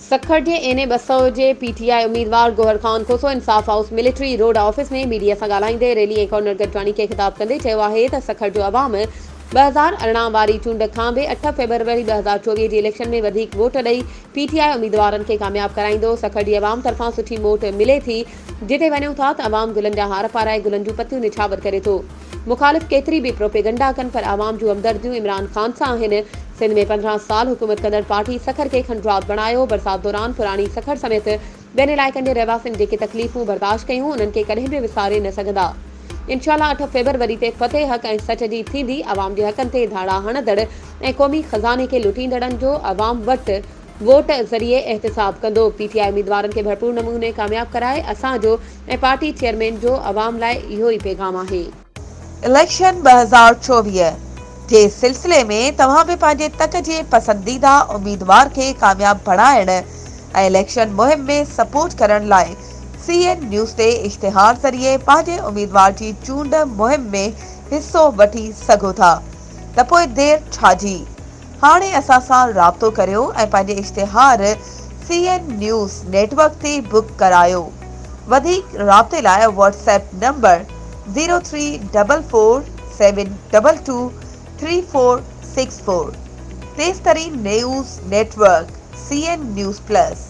سکر جي N A ٻه سؤ جي پي ٽي آء اميدوار Gohar Khan Khoso Insaf house military road office ۾ media سان ڳالهائيندي ريلي ۽ ڪورنر گڏجاڻي کي خطاب ڪندي چيو آهي ته سکر جو عوام ٻه هزار ارڙهن واري چونڊ کان به اٺ فيبروري ٻه هزار چوويهه جي اليڪشن ۾ وڌيڪ ووٽ ڏئي پي ٽي آء اميدوارن کي ڪامياب ڪرائيندو، سکر جي عوام طرفان سٺي موٽ ملي ٿي، جتي وڃون ٿا ته عوام گلن جا هار پارائي گلن جون پتيون نڇاور ڪري ٿو، مخالف ڪيتري به پروپيگنڊا ڪن پر عوام جون همدرديون عمران خان سان آهن، سنڌ ۾ پندرهن سال حڪومت ڪندڙ پارٽي سکر کي کنڊرات بڻايو، برسات دوران پراڻي سکر سميت ٻين علائقن جي رهواسين جيڪي تڪليفون برداشت ڪيون انهن کي ڪڏهن به وساري نه سگهندا انشاء الله اٺ فيبروري تي فتح حق ۽ سچ جي ٿيندي عوام جي حقن تي ڌاڙا هڻندڙ ۽ قومي خزاني کي لٽيندڙن جو عوام وٽ ووٽ ذريعي احتساب ڪندو پي ٽي آء اميدوارن کي ڀرپور نموني ڪامياب ڪرائي اسان جو ۽ پارٽي چيئرمين جو عوام لاء اهو ئي پيغام آهي. اليڪشن ٻه هزار چوويهه جي سلسلي ۾ توهان به پنهنجي تڪ جي پسنديده اميدوار کي ڪامياب بڻائڻ ۽ اليڪشن مهم ۾ سپورٽ ڪرڻ لاء سي اين نيوز تي اشتهار ذريعي پنهنجي اميدوار جي چونڊ مهم ۾ حصو وٺي سگهو ٿا ته پوء دير ڇا جي هاڻي اسان سان رابطو ڪريو ۽ پنهنجي اشتهار C N news network تي بڪ ڪرايو وڌيڪ رابطي لاء WhatsApp number zero three double four seven double two three four six four تيز ترين news network C N news plus.